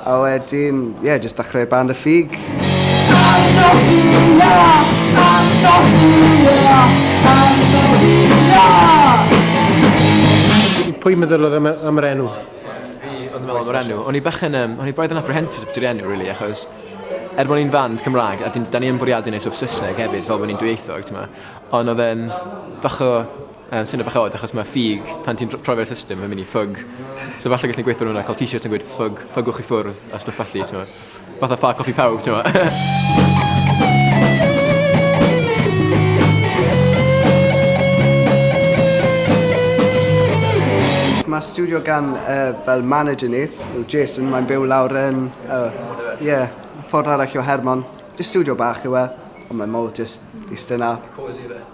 A wedyn, ie, jyst dachrau band y ffug. Andohia! Andohia! Andohia! Pwy meddylodd am, am yr enw? Fi oedd yn meddwl am yr enw. O'n i bechyn, um, o'n i boedd yn apprehensive beth yw'r enw, really, achos er bod ni'n fand Cymraeg, a da ni'n bwriadu wneud stwff Saesneg hefyd, fel bod ni'n dwyieithog, ti'n ma. Ond oedd e'n bach o Yn swnio bach od achos mae ffug, pan ti'n troi fe ar y system mae'n mynd i ffug. So falle gallen ni gweithio ar hwnna, cael t-shirts yn gweud ffug, ffygwch i ffwrdd a stwff felly, timod. Fatha ffa coff i pawb, timod. Mae stiwdio gan yy fel manager ni, yw Jason, mae'n byw lawr yn yy ie, ffordd arall o Hermon. Jyst stiwdio bach yw e, ond mae mowr jyst iste 'na. Cosy ife?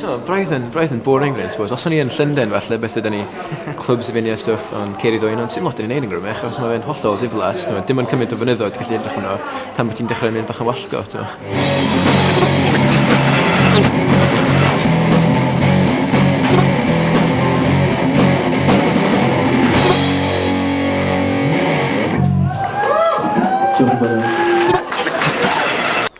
T'o' braidd yn braidd yn boring rili I suppose. Os o'n i yn Llunden falle byse 'da ni clwbs i fyn' a stwff on' Ceri Dwyn on' sim lot o'n i neud yn Gymru achos ma' fe'n hollol ddiflas t'mo' dim on' cyment o fynyddoedd ti gallu edrych arno tan bo' ti'n dechre myn' bach yn wallgo t'mo'. Diolch yn fowr iawn.